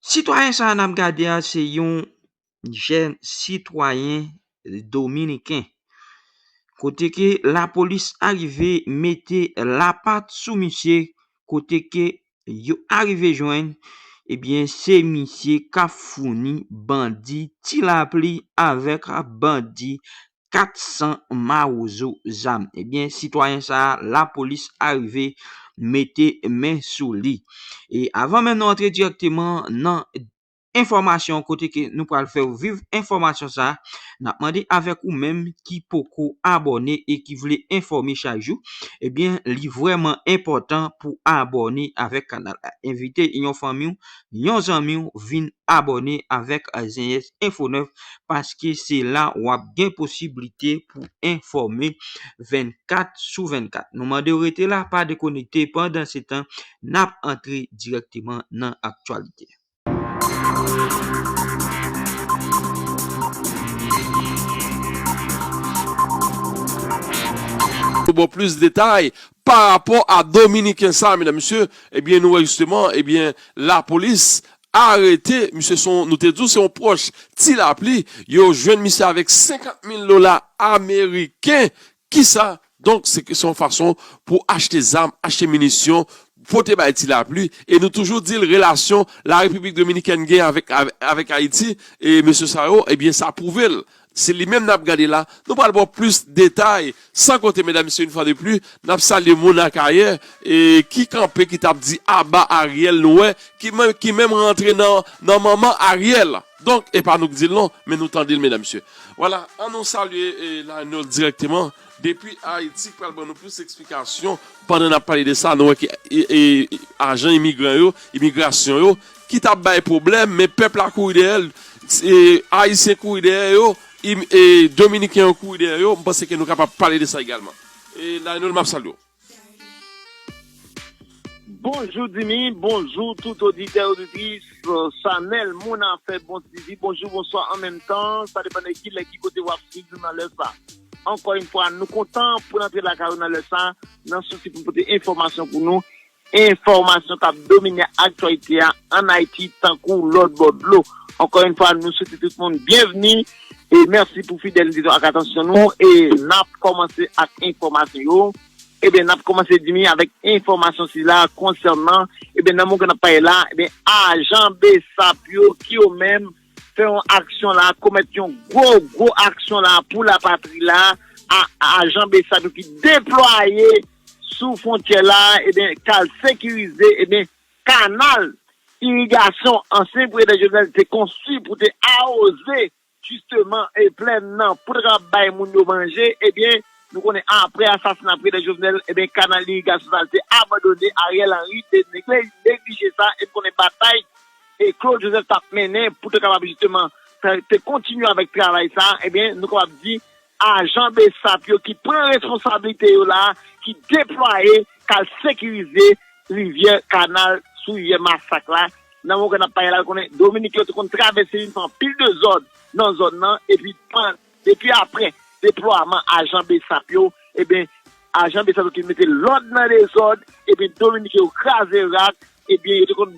Sitwayen sa a n ap gade a se yon jèn sitwayen dominiken kote ke lapolis arive mete lapat sou misye kote ke yo arive jwenn ebyen se misye k ap founi bandi ti lapli avèk bandi. 400 mawozo zam. Ebyen sitwayen sa a lapolis arive mete men sou li. E avan menm nou antre direkteman nan enfòmasyon kote ke nou pral fè ou viv enfòmasyon sa a, n ap mande avèk ou menm ki poko abòne e ki vle enfòme chak jou, ebyen li vrèman enpòtan pou abòne avèk kanal la. Envite yon fanmi ou yon zanmiw vin abòne avèk Zenyèz Enfo 9 paske se la wap gen posiblite pou enfòme 24 sou 24. Nou mandew rete la pa dekonekte pandan se tan nap antre dirèkteman nan aktyalite. Pou bon plis detay, Pa rapò a dominiken sa medam mesye ebyen nou wè jisteman ebyen lapolis arete misye son nou te di w se yon pwòch ti lapli yo jwenn misye avèk 50 mil dola ameriken kisa donk se se yon fason pou achte zam achte minisyon pote bay ti lapli e nou toujou di l relasyon la repiblik dominikèn gen avèk avèk ayiti e mesye sa yo ebyen sa pwouve l Se li menm nap gade la, nou pral baw plis detay, san konte medam mesye une fois de plus nap salye moun akayè ki kanpe ki tap di aba Ariel nou wè ki menm rantre nan manman Ariel donk epa nou k dil non men nou tandel medam mesye wala an nou salye Lionel direkteman depi Haïti k pral ban nou plis eksplikasyon pandan nap pale de sa nou wè ki ajan imigran yo imigrasyon yo ki tap bay pwoblèm men pèp la kouri dèyè l ayisyen kouri dèyè yo dominiken yo kouri dèyè yo m panse ke nou kapab pale de sa egalman Lionel map salye w. Bonjou Dimy, bonjou tout oditè oditris chanèl moun afè bon swivi, bonjou bonswa an menm tan sa depan de kilè ki kote wap swiv nou nan lè sa ankò yn fwa nou kontan pou n antre lakay ou nan lè sa nan sousi pou n pote enfòmasyon pou nou Enfòmasyon kap domine aktyalite a an Ayiti tankou lòt bò dlo. Ankò yon fwa nou swete tout moun byenvni e mèsi pou fidelite nou ak atansyon nou e nap kòmanse ak enfòmasyon yo ebyen nap kòmanse dimi avèk enfòmasyon sila konsènan ebyen nan moman ke nap pale la ebyen ajan bsap yo ki yo menm fè yon aksyon la a, komèt yon gwo, gwo aksyon la a pou lapatri la a, ajan bsap yo ki deplwaye sou fwontyè la a, eben, ka al sekirize, eben, kanal irigasyon ansyen prezidan Jovenel te konstwi pou te awoze, jisteman, e plèn nan, pou te kapab bay moun yo manje, eben, nou konnen apre asasina prezidan Jovenel, eben, kanal irigasyon sa a te abandone, Ariel Henry te neglije sa, e nou konnen batay e Claude Joseph tap mennen pou te kapab jisteman te kontinye avèk travay sa a, ebyen nou kapab di ajan bsap yo ki pran responsablite yo la a, ki deplwaye kal sekirize rivyè kanal sou rivyè masak la, nan moman ke nap pale la nou konnen Dominik yo te konn travèse li nan anpil dezòd nan zòn nan epi pandan. Depi aprè deplwaman ajan bsap yo, ebyen ajan bsap yo te mete lòd nan dezòd, ebyen dominiken yo kraze rak, ebyen yo te konn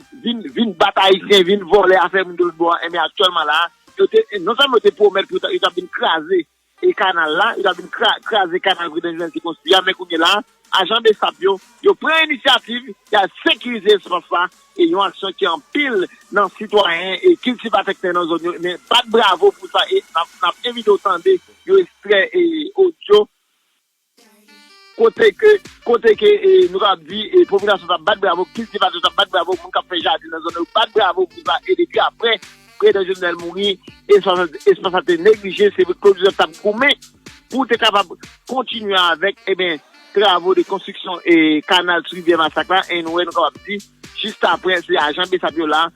vin bat ayisyen, vin vòlè afè moun de lòt bò a, ebyen aktyèlman la a, yo te, non sèlman yo te pwomèt pou yo ta vin kraze kanal la, yo ta vin kraze kanal prezidan Jovenel te konstwi a, men kounye la a, Ajan bsap yo, yo pran inisyativ y al sekirize espas la e yon aksyon ke anpil nan sitwayen e kiltivatè k te nan zòn yo men bat bravo pou sa e n ap envite w tande yon ekstrè odyo kote ke kote ke nou kapab di popilasyon sa bat bravo, kiltivatè sa bat bravo, moun k ap fè jaden nan zòn nan yo bat bravo pou sa e depi aprè prezidan Jovenel mouri espas la te neglije se vre Claude Joseph t ap goumen. pou w te kapab kontinye avèk eben travo de konstriksyon e kanal sou rivyè masak la e nou wè nou kapab di jist aprè se ajan bsap yo la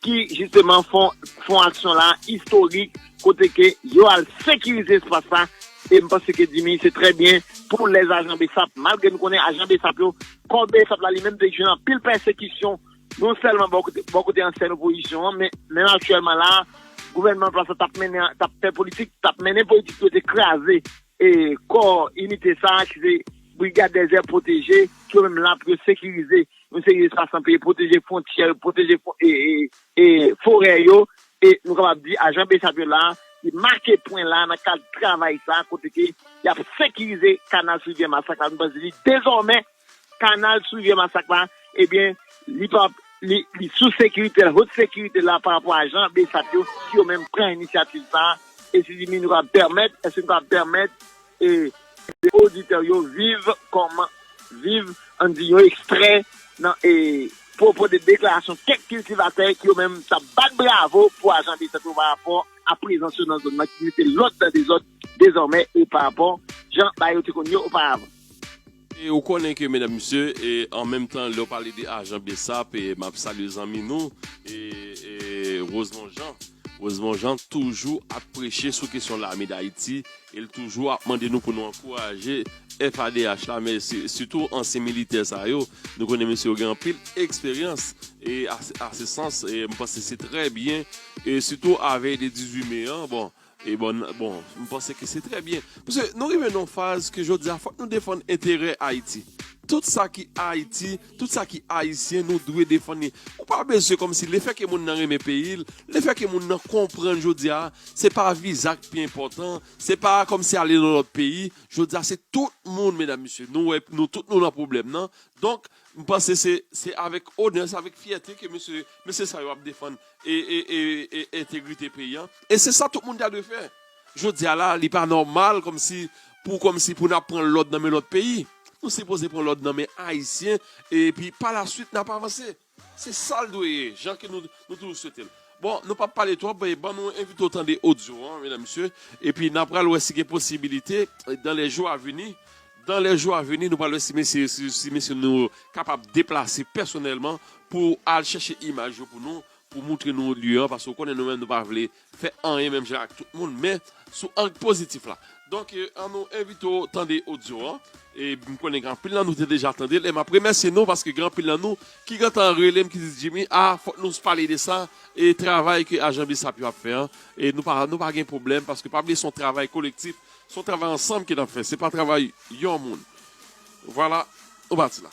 ki jisteman fon fon aksyon la istorik kote ke yo al sekirize espas la e m panse ke dimi se trè byen pou lèz ajan bsap malgre nou konnen ajan bsap yo kò bsap la li menm te jwenn anpil pèsekisyon Non sèlman bò kote ansyen opozisyon an, men menm aktyèlman la a, gouvènman an plas la t ap mennen, t ap fè politik, t ap mennen politik pou yo te kraze kò inite sa a ki se Brigad Dezè Pwoteje, ki yo menm la pou yo sekirize yon seri espas nan peyi, pwoteje fwontyè yo, pwoteje forè yo. E nou kapab di ajan bsap yo la a, li make pwen la a nan kad travay sa a kote ke y ap sekirize kanal Sous Rivyè Masak la. Nou panse ke dezòmè, Kanal sou rivyè Masak la, ebyen li pa li sou sekirite l, haute sécurité la pa rapò a jan bsap yo ki yo menm pran inisyativ sa a, e si di mi nou kab pèmèt, èske nou kab pèmèt e ke oditè yo viv kòman, viv an n di yon ekstrè nan e pwopo de deklarasyon kèk kiltivatè ki yo menm t ap bat bravo pou ajan bsap yo pa rapò a prezans yo nan zòn nan ki mete lòd nan dezòd dezòmè e pa rapò jan bagay yo te konn ye oparavan. E ou konnen ke medam mesye e an menm tan lè ou pale de ajan bsap e map salye zanmi nou e e Rosemond Jean Rosemond Jean toujou ap preche sou kesyon lame dayiti e l toujou ap mande nou pou nou ankouraje FADH la men si sitou ansyen militè sa yo nou konnen mesye yo gen anpil eksperyans e a se sans e m panse se trè byen e sitou avèy de 18 me an bon Ebon bon m panse ke se trè byen. Paske nou rive nan yon faz ke jodi a fòk nou defann enterè Ayiti. Tout sa ki Ayiti, tout sa ki Ayisyen nou dwe defann li. Ou pa bezwen kòm si le fè ke moun nan renmen peyi l, le fè ke moun nan konprann jodi a se pa viza k pi enpòtan, se pa kòm si ale nan lòt peyi. Jodi a se tout moun medam mesye nou wè nou tout nou nan pwoblèm nan. Donk m panse se avèk onè, se avèk fyète ke mesye, mesye sa yo ap defann e entegrite peyi an e se sa tout moun ta dwe fè jodia la li pa nòmal kòmsi pou kòmsi pou nap pran lòd nan men lòt peyi nou sipoze pran lòd nan men ayisyen e pi pa la swit nap avanse se sal dwe ye jan ke nou toujou swetel bon nou pap pale twòp e ban nou envite w tande odyo an medam mesye e pi nan pral wè si gen posibilite dan lè jou a vini Dan lè jou a veni nou pral wè si mesye yo si si mesye nou yo kapab deplase pèsonèlman pou al chèche imaj yo pou nou pou moutre nou lye an paske ou konnen nou menm nou pa vle fè anyen menm jan ak tout moun men sou ang pozitif la donk an nou envite w tande odyo an e m konnen gen anpil nan nou te deja tande l e m ap remèsye nou paske gen anpil nan nou ki gentan rele m ki di Jimmy a fòk nou pale de sa e travay ke ajan bsap yo ap fè an e nou pa nou pa gen pwoblèm paske pa bliye s on travay kolektif Se yon travay ansanm ke nap fè, se pa travay yon moun. Vwala, on pati la.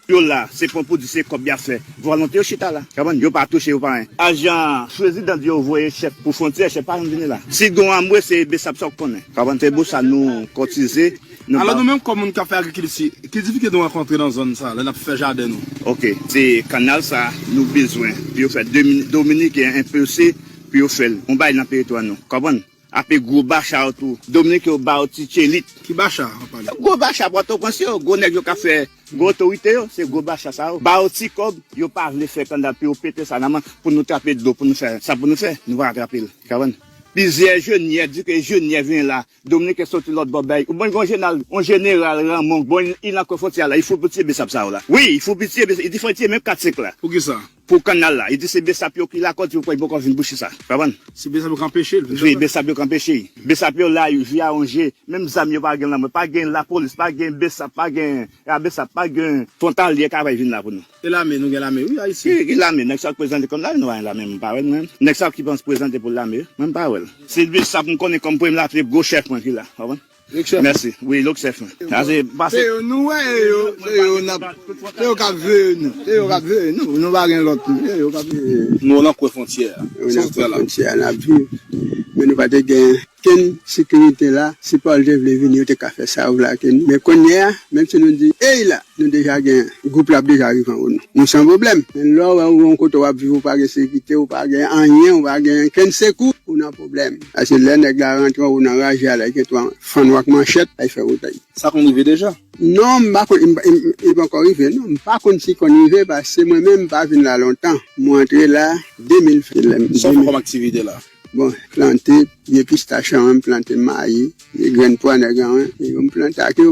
Yo la, se pon pou di se kòb yap fè. Vòlante yo chita la. Kabann, yo pa touche, yo pa anyen. Ajan prezidan di yo voye chèk pou fwontyè, chèk pa janm vini la. Si gon anmwe, se besap sa ou konnen. Kabann, se pou sa nou kotize, nou ba. Alò nou menm kòm moun kap fè agrikilti, ki difikilte nou rankontre nan zòn sa, lè nap fè jaden nou? Ok, se kanal sa nou bezwen pou yo fè dominiken enpose pou yo fèl, on bagay nan teritwa nou. Kabann, Ape gwo bacha ou tou. Dominique yo baw ti tchelit. Ki bacha wap pale. Gwo bacha pòtoprens yo, gwo nèg yo kap fè gwo otorite yo, se gwo bacha sa yo, bayo ti kòb, yo pa vle fè kanda piyo pete sa nan man pou nou trape dlo pou nou fè sa pou nou fè, nou pa ka trape l, kaprann. Plizyè jenyè di ke jenyè vin la, Dominique soti lòt bò bèy, ou bon gon jenal, on jeneral Raymond, bon li nan kò fontyè a la, li fou pou tiye besap sa yo la. Wi, li fou pou tiye besap, li te fè tiye menm 4 5 la. Poukisa? Pou kannal la. Yo di se besap yo ki lakòz yo kwè li poko vin bouche sa. Konprann? Se besap yo k anpeche l vin lakòz. Wi, besap yo k anpeche li. Besap yo la ui, vi a yon je. Menm zam yo pa gen lanmò. Pa gen lapolis, pa gen besap, pa gen ra besap, pa gen. Fwontalye ka pa vin la pou nou. E lame, nou gen lame wi Ayiti. Wi, gen lame. Nèg sa yo k prezante kòm lame nou pa gen lame mwen pa wè l mwen. Nèg sa yo ki panse prezante pou lame mwen pa wè l. Se besap m konnen kòm premye latriye gwo chèf mwen ki la. Konprann? Merci wi look chef mwen. Sa se pase. Se yo nou wè e yo se yo nap se yo kap veye nou se yo kap veye nou nou pa gen lòt moun se yo kap veye nou. Nou nan kwen fontyè a. Nou nan kwen fontyè a nap viv men nou pa te gen kenn sekirite la si Paul te vle vini yo te ka fè sa yo vle ak nou men konnye a menm si nou di ey la nou deja gen gwoup la ap deja rive anwo nou nou san pwoblèm men lè w wè ou gen yon kote wap viv ou pa gen sekite ou pa gen anyen ou pa gen kenn sekou ou nan pwoblèm. Ase lè nèg la rantre anwo nan raje a la gen twa fann ou ak manchèt ay fè wotay. Sa konn rive deja? Non m pa konn li panko rive non m pa konn si konn rive pase mwen menm m pa vin la lontan mwen antre la 2020. Sa w fè kòm aktivite la? Bon plante pye pistach anwen m plante mayi e grenn pwa nèg anwen e yo m plante ak yo.